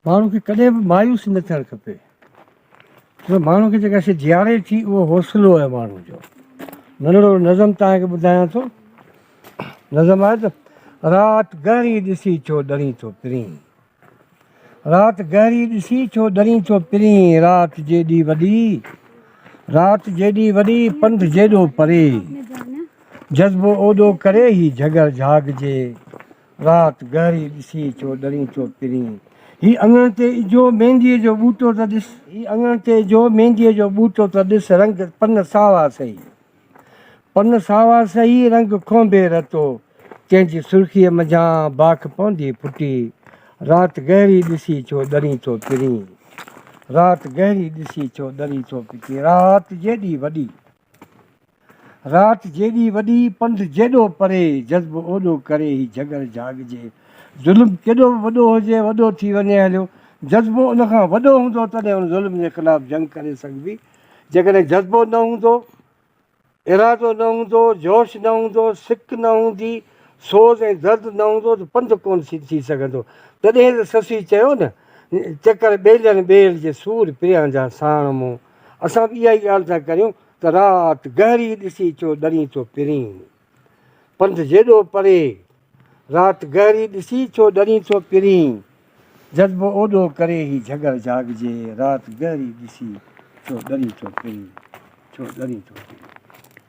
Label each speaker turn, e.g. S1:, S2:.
S1: ماڻهو کي ڪڏهن به مايوس نه ٿيڻ کپي. ڇو ماڻهو کي جيڪا شيء جياري ٿي اهو حوصلو آهي ماڻهو جو. ننڍڙو نظم توهان کي ٻڌايان ٿو. نظم آهي ته رات گهري ڏسي ڇو ڏرين ٿو پرين. رات گهري ڏسي ڇو ڏرين ٿو پرين رات جيڏي وڏي رات جيڏي وڏي پنڌ جيڏو پري جذبو اوڏو ڪري هي جهڳڙ جهاڳ جي رات گهري ڏسي ڇو ڏرين ڇو پرين. هي اڱڻ تي اجهو مينديء جو ٻوٽو ته ڏس. هي اڱڻ تي اجهو مينديء جو ٻوٽو ته ڏس رنگ پن ساوا سهي. پن ساوا سهي رنگ ڪونڀي رتو تنهن جي سرخيء منجهان باک پوندي ڦٽي رات گهري ڏسي ڇو ڏرين ڇو پرين. رات گهري ڏسي ڇو ڏرين ڇو پرين. رات جيڏي وڏي. رات جيڏي وڏي، پنڌ جيڏو پري، جذب اوڏو ڪري هي جهڳڙ جهاڳجي. ظلم ڪيڏو به وڏو هجي، وڏو ٿي وڃي هليو، جذبو ان کان وڏو هوندو تڏهن ان ظلم جي خلاف جنگ ڪري سگهبي، جيڪڏهن جذبو نه هوندو، ارادو نه هوندو، جوش نه هوندو، سڪ نه هوندي، سوز ۽ درد نه هوندو ته پنڌ ڪونه ٿي سگهندو. تڏهن ته سسئي چيو نه، چڪر ٻيلن ٻيل جي سور پريان جا ساڻ مون. اسان به اها ئي ڳالهه ٿا ڪريون ته رات گهري ڏسي چو ڏرين ٿو پرين پنڌ جيڏو پري رات گهري ڏسي چو ڏرين ٿو پرين جذبو اوڏو ڪري هي جهڳڙ جهاڳجي رات گهري ڏسي چو ڏرين ٿو پرين چو ڏرين ٿو پرين.